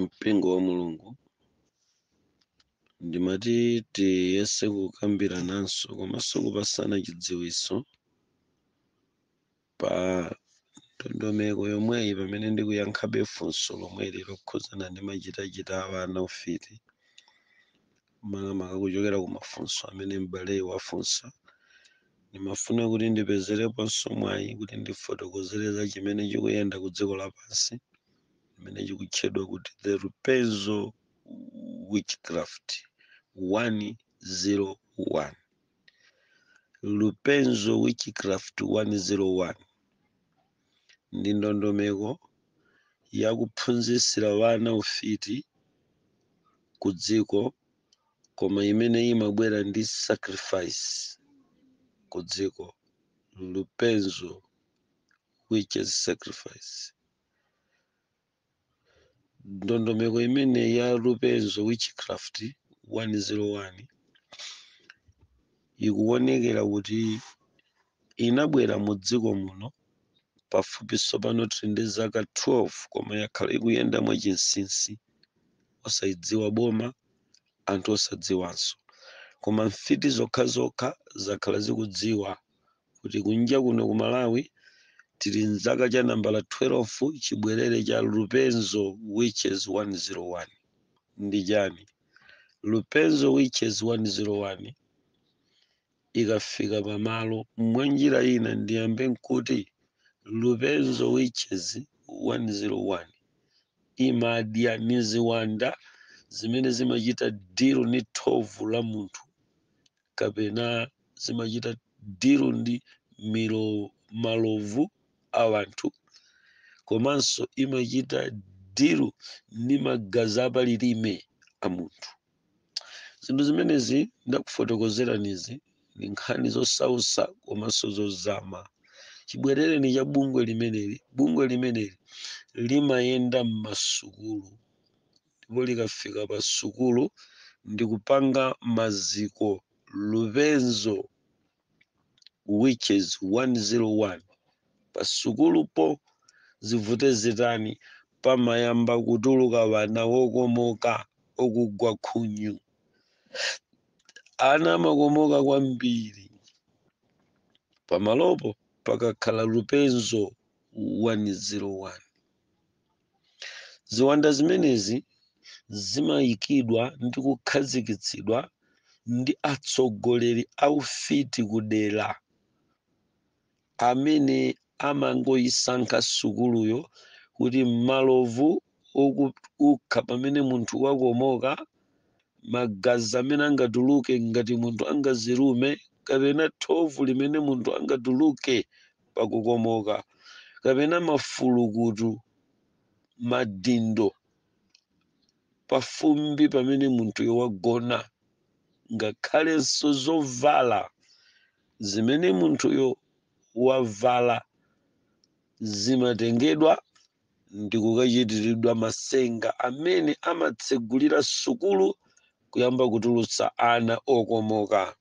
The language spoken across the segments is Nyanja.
mpingo wa mulungu ndimati tiyese kukambirananso komanso kupatsana chidziwitso pa ndondomeko yomweyi pamene ndikuyankhabe funso lomweli lokhudzana ndi machitachita a ana ufiti makamaka kuchokera ku mafunso amene m'baleyu wafunsa ndimafuna kuti ndipezereponso mwayi kuti ndifotokozere za chimene chikuyenda ku dziko lapansi chimene chikutchedwa kuti the lupenzo witchcraft 101 lupenzo witchcraft 101 ndi ndondomeko yakuphunzitsira wana ufiti ku dziko koma imene imabwera ndi sacrifice ku dziko lupenzo witches sacrifice ndondomeko imene ya Lupenzo Witchcraft 101 ikuwonekera kuti inabwera mu dziko muno pafupi tsopano tiri ndi zaka 12 koma yakhala ikuyenda mwachinsinsi osayidziwa boma anthu osadziwanso koma mfiti zokhazokha zakhala zikudziwa kuti kunja kuno ku Malawi tili mzaka cha nambala 12 chibwerere cha Lupenzo Witches 101 ndi chani? Lupenzo Witches 101 ikafika pamalo mwanjira ina ndiyambe nkuti Lupenzo Witches 101 imadya ni ziwanda zimene zimachita deal ni thovu la munthu kapena zimachita dilu ndi malovu a wanthu komanso imachita dilu ndi magazi apalilime a munthu zinthu zimenezi ndakufotokozeranizi ndi nkhani zosautsa komanso zozama chibwerereni cha bungwe limeneli bungwe limeneli limayenda m'masukulu ndipo likafika pa sukulu ndi kupanga maziko lupenzo witches 101 pa sukulupo zivute zitani pamayamba kutuluka wana wokomoka okugwa khunyu ana amakomoka kwambiri pamalopo pakakhala lupenzo 101 Ziwanda zimenezi zimayikidwa ndi kukhazikitsidwa ndi atsogoleri aufiti kudera amene amangoyisankha sukuluyo kuti malovu okukha pamene munthu wakomoka, magazi amene angatuluke ngati munthu angazilume, kapena thovu limene munthu angatuluke pakukomoka kapena mafulukutu madindo pafumbi pamene munthuyo wagona ngakhalenso zovala zimene munthuyo wavala zimatengedwa ndi kukachitiridwa matsenga amene amatsegulira sukulu kuyamba kutulutsa ana okomoka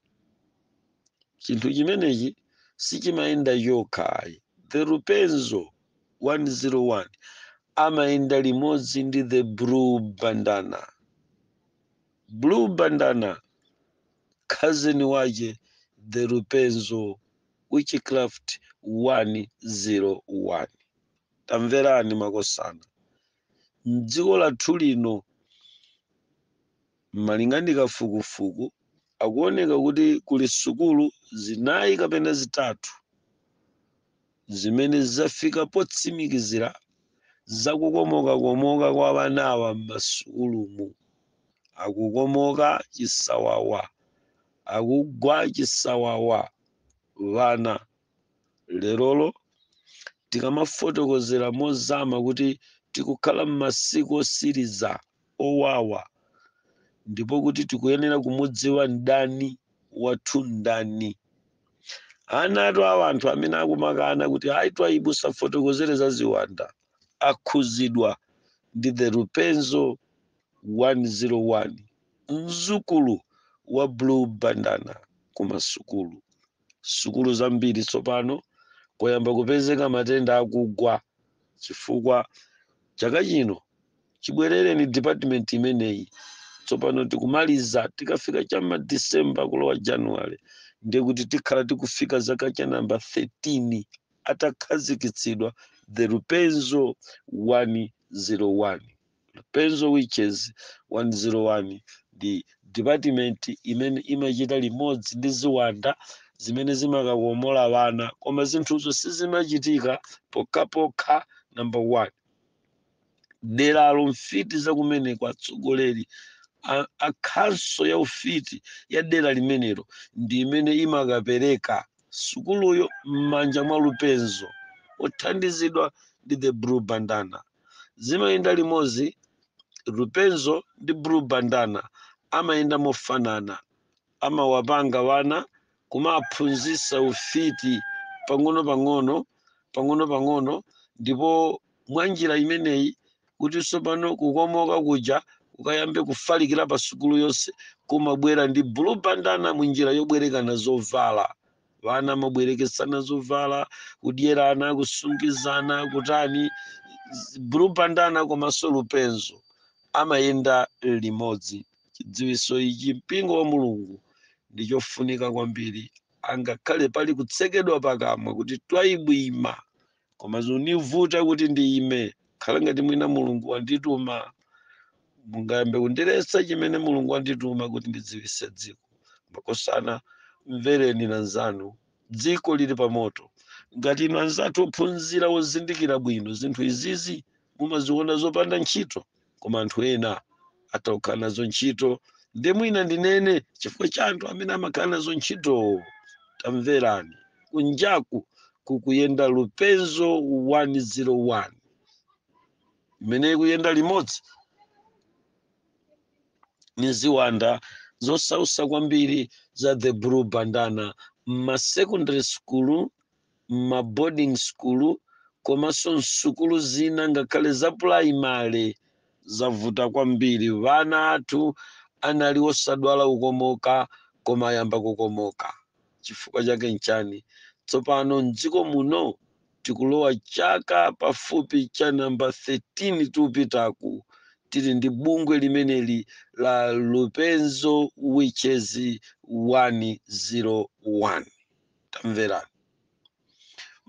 chinthu chimenechi sichimayenda chokhayi the rupenzo 101 amayenda limodzi ndi the blue bandana blue bandana cousin wache the rupenzo witchcraft 101 tamverani makosana mdziko lathu lino Malinga ndi kafukufuku, akuoneka kuti kuli sukulu zinayi kapena zitatu zimene zafika potsimikizira za kukomokakomoka kwa anawa m'masukulumu. Akukomoka chisawawa, akugwa chisawawa, wana. lerolo tikamafotokozera mozama kuti tikukhala m'masiku osiriza owawa ndipo kuti tikuyenera kumudziwa mdani wathu ndani ana atu awa anthu amene akumakana kuti ayi Twaibu safotokozere za ziwanda akhuzidwa ndi the rupenzo 101 mzukulu wa blue bandana kumasukulu sukulu zambiri tsopano kwayamba kupezeka matenda akugwa chifukwa chaka chino chibwerere ni department imeneyi tsopano tikumaliza tikafika chama december kulowa january ndiye kuti tikhala tikufika zaka cha namba 13 atakhazikitsidwa the rupenzo 101 Lupenzo Witches 101 ndi dipatimenti imene imachita limodzi ndi ziwanda zimene zimakakomola ana, koma zinthuzo sizimachitika pokhapokha namba 1 deralo mfiti za kumeneko atsogoleri a khanso ya ufiti ya dera limenelo ndi imene imakapereka sukuluyo m'manja mwa lupenzo othandizidwa ndi the blue bandana zimayenda limodzi lupenzo ndi blue bandana amayenda mofanana amawapanga wana kumaphunzisa ufiti pang'ono pang'ono pang'ono pang'ono ndipo mwa njira imeneyi kuti tsopano kukomoka kuja kukayambe kufalikira pa sukulu yonse kumabwera ndi blue bandana mu njira yobwerekana zovala vana amabwerekesana zovala kudyerana kusungizana kutani z- blue bandana komanso lupenzo amayenda limodzi chidziwiso ichi mpingo wa mulungu ndi chofunika kwambiri angakhale pali kutsekedwa pakamwa kuti Twaibu ima koma zunivuta kuti ndiyime khala ngati mwina mulungu wandituma mungayambe kundiletsa chimene mulungu wandituma kuti ndidziwise dziko makosana mvereni na nzanu dziko lili pamoto ngati inu anzathu ophunzira ozindikira bwino zinthu izizi mumaziona zopanda ntchito koma anthu ena atha kukhala nazo ntchito nde mwina ndinene chifukwa cha anthu amene amakhala nazo ntchitowo tamverani kunjaku kukuyenda lupenzo 101 imene ikuyenda limodzi ni ziwanda zosausa kwambiri za the blue bandana m'masecondary school m'ma boarding school komanso m'sukulu zina ngakhale za pulayimale zavuta kwambiri ana athu anali osadwala kukomoka koma ayamba kukomoka chifukwa chake nchani tsopano m'dziko muno tikulowa chaka pafupi cha namba 13 tikupitaku tili ndi bungwe limeneli la lupenzo witches 101 Tamverani.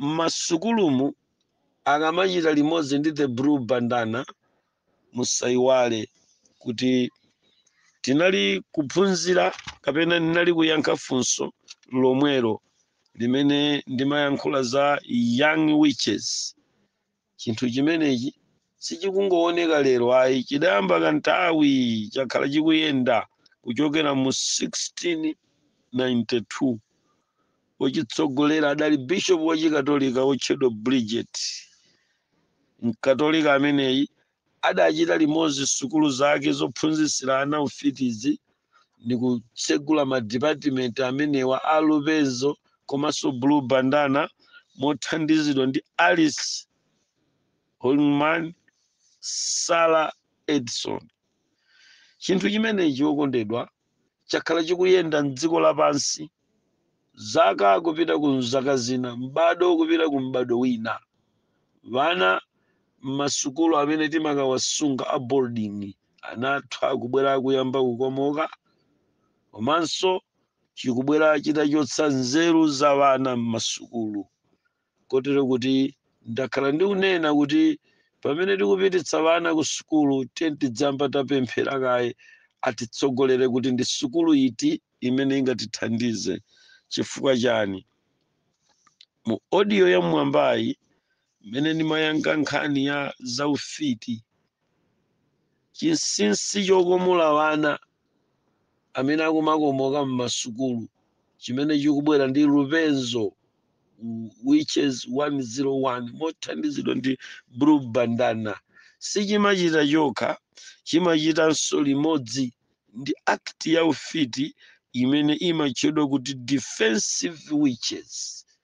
M'masukulumu akamachita limodzi ndi the blue bandana musaiwale kuti tinali kuphunzira kapena ndinali kuyankha funso lomwelo limene ndimayankhula za young witches chinthu chimenechi sichikungooneka lero ayi chidayamba kanthawi chakhala chikuyenda kuchokera mu 1692 wochitsogolera adali bishop wachikatolika wotchedwa bridget mkatolika ameneyi adachita limodzi sukulu zake zophunzitsira ana ufitizi ndi kutsegula madipatimenti amenewa a Lupenzo komanso Blue Bandana mothandizidwa ndi Alice Holman Sarah Edison. Chinthu chimenechi wokondedwa chakhala chikuyenda m'dziko lapansi, zaka kupita ku zaka zina, m'bado kupita ku m'bado wina. Vana m'masukulu amene timakawasunga a boarding anathu akubwera kuyamba kukomoka, komanso chikubwera chitachotsa nzeru za vana m'masukulu. Kotero kuti ndakhala ndikunena kuti pamene tikupititsa vana ku sukulu, tiyeni tidziyamba tapemphera kaye atitsogolere kuti ndi sukulu iti imene ingatithandize. Chifukwa chani? Mu audio ya m'mwambayi, imene ndimayankha nkhani ya za ufiti, Chinsinsi chokomola ana amene akumakomoka m'masukulu chimene chikubwera ndi Lupenzo Witches 101 mothandizidwa ndi Blue Bandana sichimachita chokha, chimachitanso limodzi ndi act ya ufiti imene imatchedwa kuti Defensive Witches.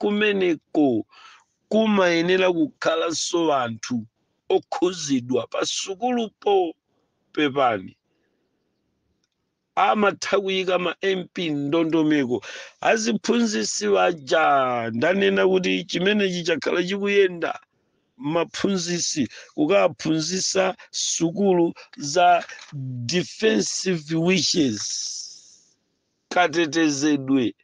kumeneko kumayenera kukhalanso anthu okhuzidwa pa sukulupo pepani amatha kuyika ma mp mndondomeko aziphunzisi waja ndanena kuti chimenechi chakhala chikuyenda maphunzisi kukaphunzisa sukulu za defensive witches katetezedwe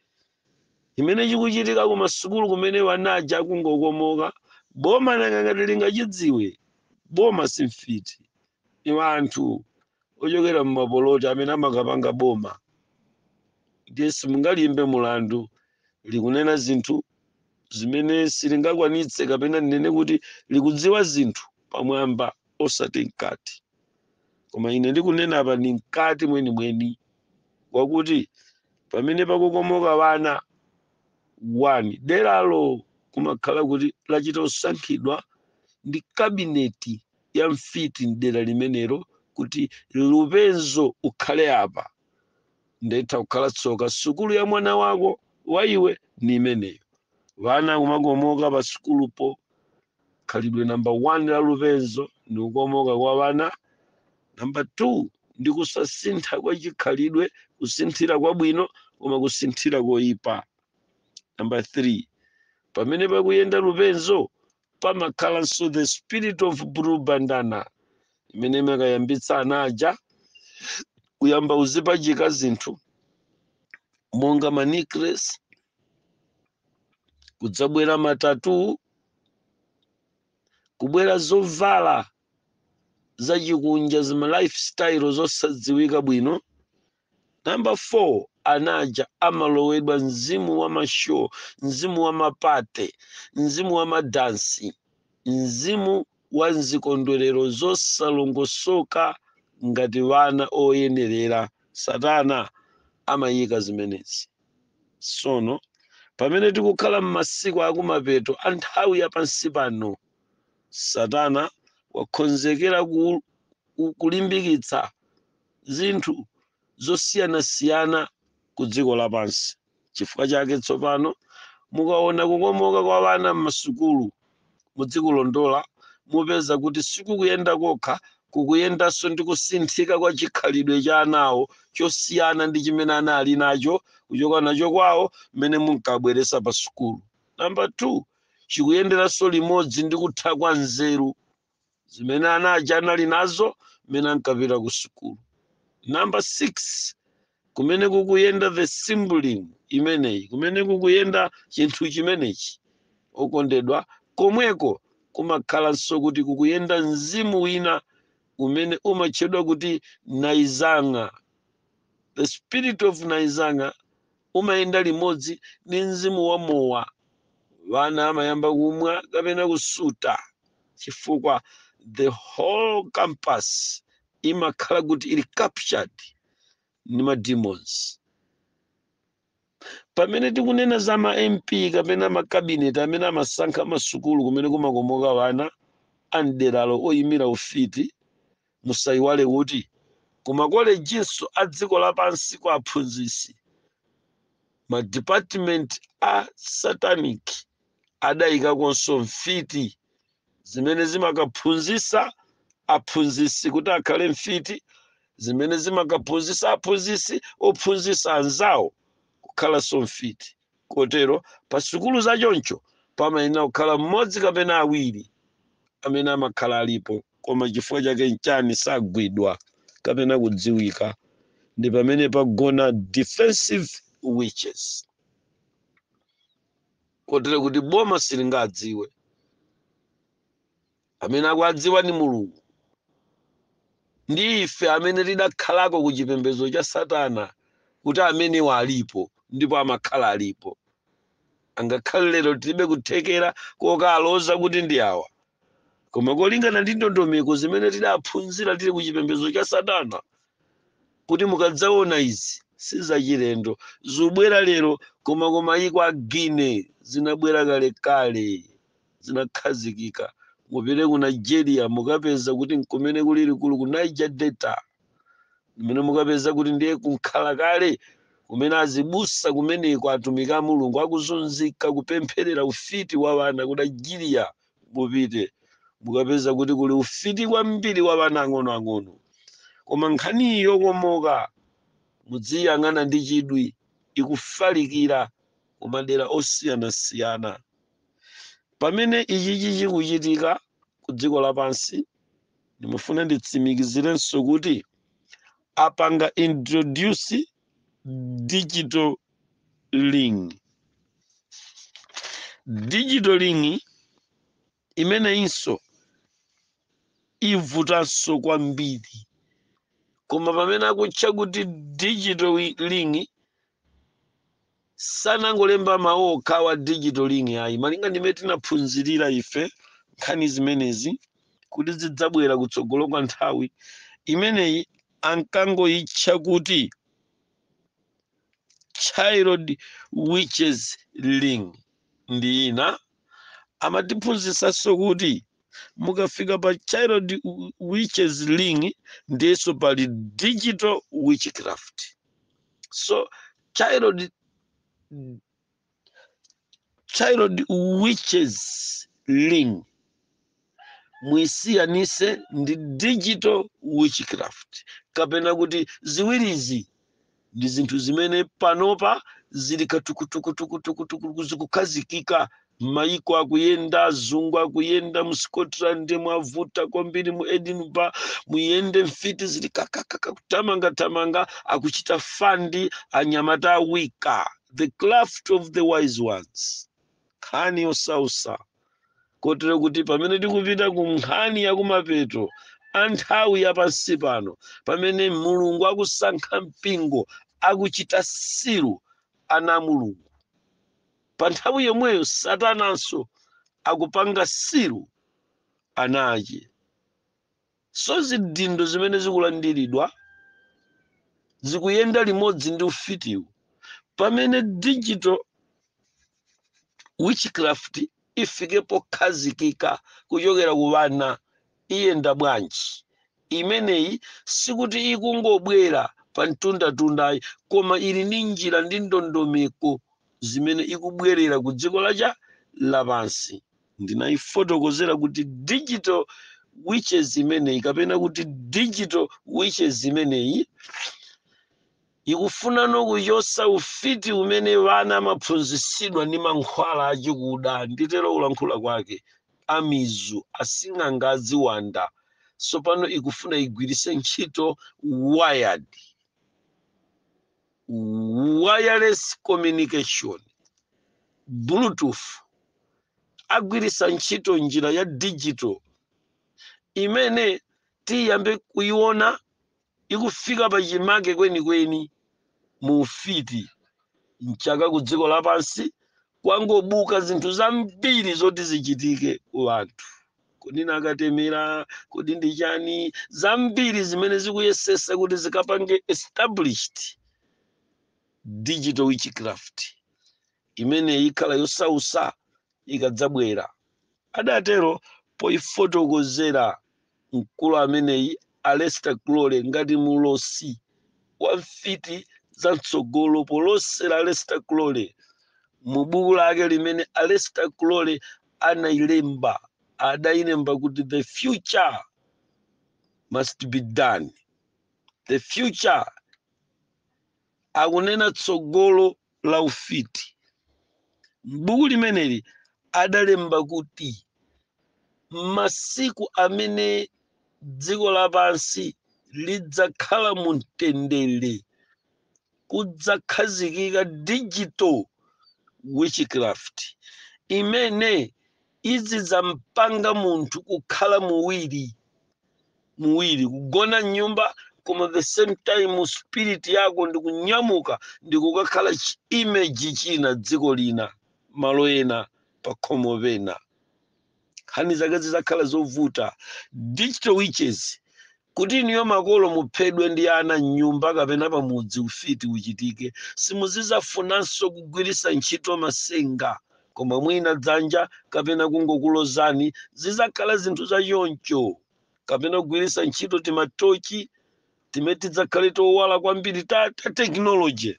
chimene chikuchitika ku masukulu kumene wana aja akungokomoka boma nanga ngati lingachidziwe boma si mfiti iwo anthu ochokera mumapoloti amene amakapanga boma ndiye simungaliimbe mulandu likunena zinthu zimene silingakwanitse kapena ndinene kuti likudziwa zinthu pamwamba osati mkati koma ine ndikunena apa ndi mkati mwenimweni wakuti pamene pakukomoka wana onani deralo kumakhala kuti lachita kusankhidwa ndi kabineti ya mfiti mdera limenelo kuti lupenzo ukhale apa nde itha kukhala tsoka sukulu ya mwana wako wa iwe ni imeneyo vana kumakomoka pa sukulupo khalidwe namba 1 la lupenzo ndi kukomoka kwa wana namba 2 ndi kusasintha kwa chikhalidwe kusinthira kwabwino koma kusinthira koyipa namba 3 pamene pakuyenda lupenzo pamakhalanso the spirit of blue bandana imene imakayambitsa ana aja kuyamba kuzipachika zinthu monga ma necklace kudzabwera ma tattoo kubwera zovala zachikunja ndi ma lifestyle zosadziwika bwino namba 4 anaja amalowedwa mzimu wa mashow mzimu wa mapate mzimu wa madansi mzimu wa zikondwerero zosalongosoka ngati wana oyenerera satana amayika zimenezi sono pamene tikukhala m'masiku akumapeto a nthawi ya pansi pano satana wakhonzekera kulimbikitsa zinthu zosiyanasiyana ku dziko lapansi chifukwa chake tsopano mukaona kukomoka kwa wana m'masukulu mudzikulondola, mupeza kuti sikukuyenda kokha, kukuyendanso ndi kusinthika kwa chikhalidwe cha anawo chosiyana ndi chimene anali nacho kuchoka nacho kwawo mmene munkawabweretsa pa sukulu. Namba 2, chikuyenderanso limodzi ndi kutha kwa nzeru zimene ana aja anali nazo mmene ankapita ku sukulu namba 6 kumene kukuyenda the symbolism imeneyi kumene kukuyenda chinthu chimenechi okondedwa komweko kumakhalanso kuti kukuyenda mzimu wina umene umatchedwa kuti naizanga the spirit of naizanga umayenda limodzi ndi mzimu wa mowa. Wana amayamba kumwa kapena kusuta chifukwa the whole campus imakhala kuti ili captured ndi ma demons. Pamene tikunena za ma MP kapena ma cabinet amene amasankha masukulu kumene kumakomoka wana a mderalo oyimira ufiti, Musaiwale kuti kumakolejinso a dziko lapansi kwa aphunzitsi, madipatimenti a Satanic adaikakonso mfiti zimene zimakaphunzitsa aphunzitsi kuti akhale mfiti, zimene zimakaphunzitsa aphunzitsi ophunzitsa anzawo kukhalanso mfiti. kotero pa sukulu za choncho pamayenera kukhala mmodzi kapena awiri amene amakhala alipo koma chifukwa chake nchani sagwidwa kapena kudziwika ndi pamene pagona defensive witches kotero kuti boma silingawadziwe amene akuwadziwa ndi mulungu ndi ife amene tidakhalako ku chipembedzo cha satana kuti amenewa alipo ndipo amakhala alipo angakhale lero tilibe kuthekera kokaloza kuti ndi awa koma kolingana ndi ndondomeko zimene tidaphunzira tili ku chipembedzo cha satana kuti mukadzaona izi sizachilendo zobwera lero koma koma you can imagine zinabwera kalekale zinakhazikika mupite ku nigeria mukapeza kuti nkumene kuli likulu ku niger delta kumene mukapeza kuti ndiye kunkhala kale kumene azibusa kumeneko atumiki a mulungu akuzunzika kupempherera ufiti wa vana ku nigeria mupite mukapeza kuti kuli ufiti kwambiri wa vana ang'onoang'ono koma nkhani yokomoka mudziyang'ana ndi chidwi ikufalikira kumadera osiyanasiyana pamene ichichi chikuchitika ku dziko lapansi ndimafuna nditsimikizirenso kuti apanga introduce digital ring digital ring imeneyinso ivutanso kwambiri koma pamene akutcha kuti digital wi- ring sanangolemba mawu okhawo a digital ring ayi malinga ndimene tinaphunzirira ife nkhani zimenezi kuti zidzabwera kutsogolo kwa nthawi imeneyi ankangoyitcha kuti child witches ring ndi ina amatiphunzitsanso kuti mukafika pa child witches ring ndiyenso pali digital witchcraft so child witches ring muisiyanise ndi digital witchcraft kapena kuti ziwirizi ndi zinthu zimene panopa zili katukutukutukutukutuku zikukhazikika m'mayiko akuyenda azungu akuyenda mu scotland mwavuta kwambiri mu edinburgh muyende mfiti zili kakakaka kutamangatamanga akuchita fandi anyamata a wicca the craft of the wise ones nkhani yosausa kotero kuti pamene tikupita ku nkhani yakumapeto a nthawi ya pansi pano pamene mulungu akusankha mpingo akuchita seal ana a mulungu Pa nthawi yomweyo Satananso akupanga seal ana ache. So zidindo zimene zikulandiridwa zikuyenda limodzi ndi ufitiwu pamene digital witchcraft ifike pokhazikika kuchokera ku vana iyenda bwanji imeneyi sikuti ikungobwera pa mtundatundayi koma ili ndi njira ndi ndondomeko zimene ikubwerera ku dziko lacha lapansi ndinayifotokozera kuti digital witches imeneyi kapena kuti digital witches imeneyi Ikufunano kuchotsa ufiti umene wana amaphunzitsidwa ndi mankhwala achikuda, nditero kulankhula kwake, amizu, asing'anga a ziwanda, tsopano ikufuna igwiritse ntchito wired, wireless communication, Bluetooth, agwiritsa ntchito njira ya digital imene tiyambe kuiona ikufika pachimake kwenikweni mu ufiti, m'chaka kudziko lapansi kwangobuka zinthu zambiri zoti zichitike ku anthu. Kodi ni akatemera? Kodi ndi chani? Zambiri zimene zikuyesesa kuti zikapange established digital witchcraft imene ikhala yosausa ikadzabwera, adatero poifotokozera mkulu ameneyi Aleister Crowley ngati mlosi wa mfiti za mtsogolo polosera Aleister Crowley mu buku lake limene Aleister Crowley anailemba adailemba kuti the future must be done the future akunena tsogolo la ufiti. M'buku limeneli adalemba kuti m'masiku amene dziko lapansi lidzakhala mu mtendere kudzakhazikika digital witchcraft imene izidzampanga munthu kukhala muwiri muwiri kugona mnyumba koma the same time spirit yako ndikunyamuka ndikukakhala chi- image china dziko lina malo ena pakhomo pena nkhani zake zizakhala zovuta digital witches Kuti inuyo makolo muphedwe ndi ana m'nyumba kapena pamudzi ufiti uchitike, simuzizafunanso kugwiritsa ntchito masenga koma mwina dzanja kapena kungokulozani zizakhala zinthu za choncho kapena kugwiritsa ntchito timatochi timene tidzakhale towala kwambiri ta technology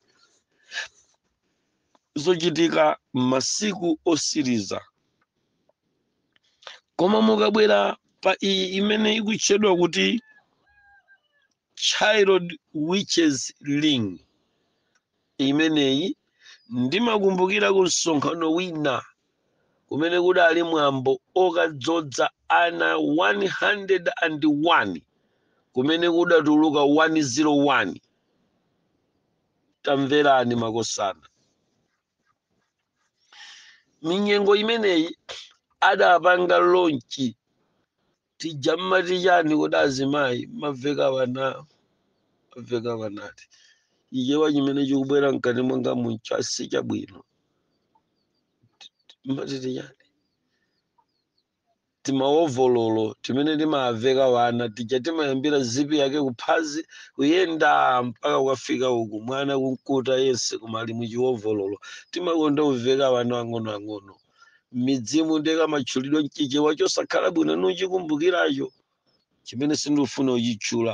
zochitika m'masiku osiriza. koma mukabwera pa iyi imene ikutchedwa kuti child witches ring imeneyi ndimakumbukira ku msonkhano wina kumene kudali mwambo okadzodza ana 101 kumene kudatuluka 101 tamverani makosana minyengo imeneyi adapanga lonchi tija mumati chani kodi azimayi mumaveka wana mumaveka wana ti Chichewa chimene chikubwera mkati mwanga muno si chabwino mumati ti chani timaovololo timene timaveka wana tija timayambira zipi yake kuphazi kuyenda mpaka kukafika uku mwana kunkuta yense koma ali muchiwovololo timakonda kuveka wana ang'onoang'ono m'midzimu ndiye kamatchulidwa mchichewa chosakhala bwino nikuchikumbukiracho chimene sindikufuna uchitchula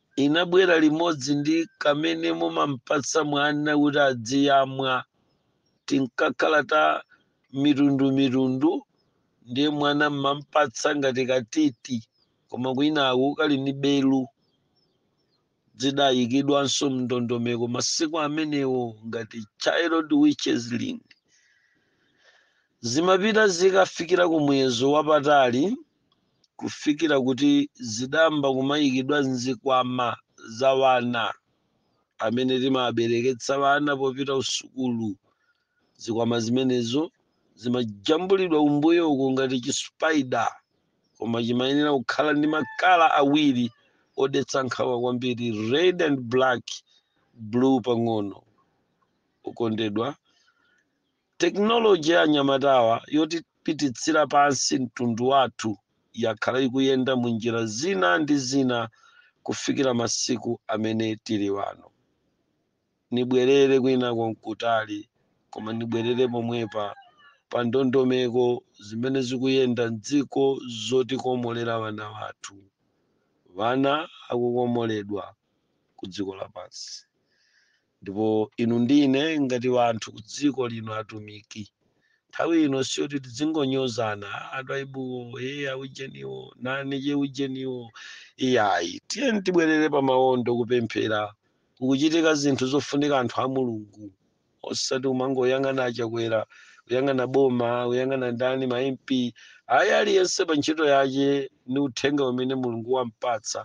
inabwera limodzi ndi kamene mumampatsa mwana kuti adziyamwa tinkakhala ta mitundu mitundu ndiye mwana mmampatsa ngati katiti koma kwinaku kali ni belu zidayikidwanso mndondomeko masiku amenewo ngati child witches link zimapita zikafikira ku muyezo wapatali kufikira kuti zidayamba kumayikidwa m'zikwama za wana amene timabereketsa wana popita usukulu. Zikwama zimenezo zimajambulidwa kumbuyo uku ngati chi spider, koma chimayenera kukhala ndi makala awiri odetsa nkhawa kwambiri, red and black, blue pang'ono. Okondedwa, Technology ya anyamatawa yotipititsira pansi mtundu wathu yakhala ikuyenda mu njira zina ndi zina kufikira masiku amene tili wano. Nibwerere kwinako n'kutali, koma nibwerere pomwepa pa ndondomeko zimene zikuyenda m'dziko zotikomolera wana wathu. Wana akukomoledwa ku dziko lapansi. ndipo inu ndi ine ngati wanthu ku dziko lino atumiki nthawi ino siyoti tidzingonyozana a Twaibuwo e aujeniwo nanije aujeniwo iyayi tiyeni tibwerere pa mawondo kupemphera kukuchitika zinthu zofunika anthu a mulungu osati umangoyang'ana a Chakwera kuyang'ana boma kuyang'ana ndani ma mp ayi aliyense pa ntchito yache ni uthenga umene mulungu wampatsa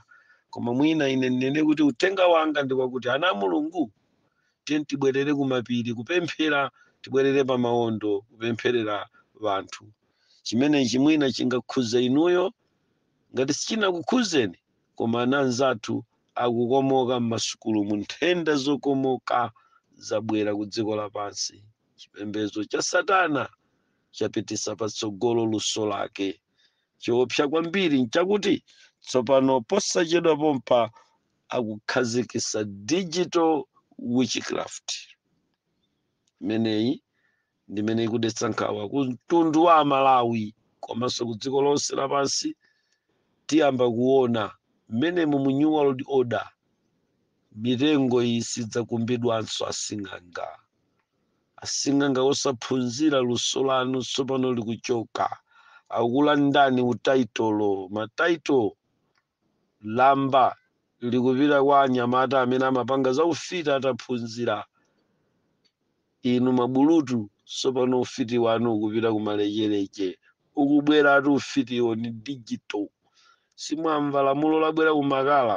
koma mwina ine ndinene kuti uthenga wanga ndi wakuti ana a mulungu tiyeni tibwerere kumapiri kupemphera tibwerere pa mawondo kupempherera wanthu chimenechi mwina chingakhuze inuyo ngati sichinakukhuzeni koma ana anzathu akukomoka m'masukulu mu nthenda zokomoka zabwera ku dziko lapansi chipembedzo cha satana chapititsa patsogolo luso lake Chiopsa kwambiri nchakuti tsopano posachedwa pompa akukhazikisa digital witchcraft. Imeneyi ndimene ikudetsa nkhawa ku mtundu wa Amalawi komanso ku dziko lonse lapansi. Tiyamba kuona mmene mu New World Order mitengo iyi sidzakumbidwanso asing'anga. asing'anga osaphunzira luso lanu tsopano likuchoka akulandani taitolo, mataitolo, lamba likupita kwa anyamata amene amapanga za ufiti ataphunzira inu mabulutu tsopano ufiti wanu ukupita kumalekeleche ukubwera ati ufitiwo ni digital simwamva lamulo labwera kumakala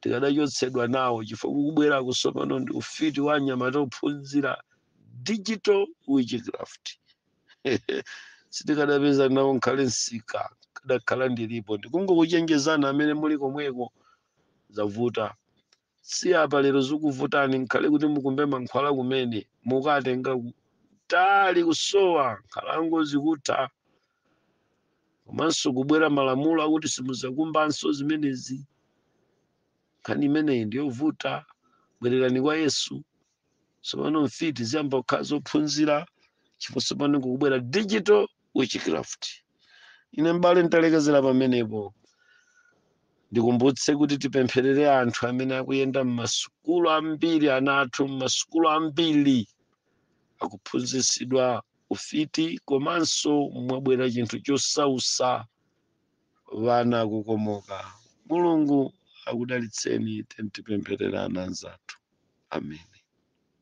tikadachotsedwa nawo chifukwa kukubwerako tsopano ndi ufiti wa anyamata ophunzira digital witchcraft sitikadapeza nawo nkhale msika ndikadakhala ndilipo ndikungokuchenjezani amene muli komweko zavuta siyapa lero zikuvutani nkhale kuti mukumbe mankhwala kumene mukatenga kutali kusowa nkhalango zikutha komanso kubwera malamulo akuti simuzakumbanso zimenezi nkhani imeneyi ndiyovuta bwererani kwa yesu tsopano mfiti ziyamba kukhala zophunzira chifukwa tsopano kukubwera digital witchcraft ine m'bale nditalekezera pamenepo ndikumbutse kuti tipempherere anthu amene akuyenda m'masukulu ambiri ana athu m'masukulu ambiri akuphunzitsidwa ufiti komanso mwabwera chinthu chosausa wana kukomoka mulungu akudalitseni tentipempherera anzathu amen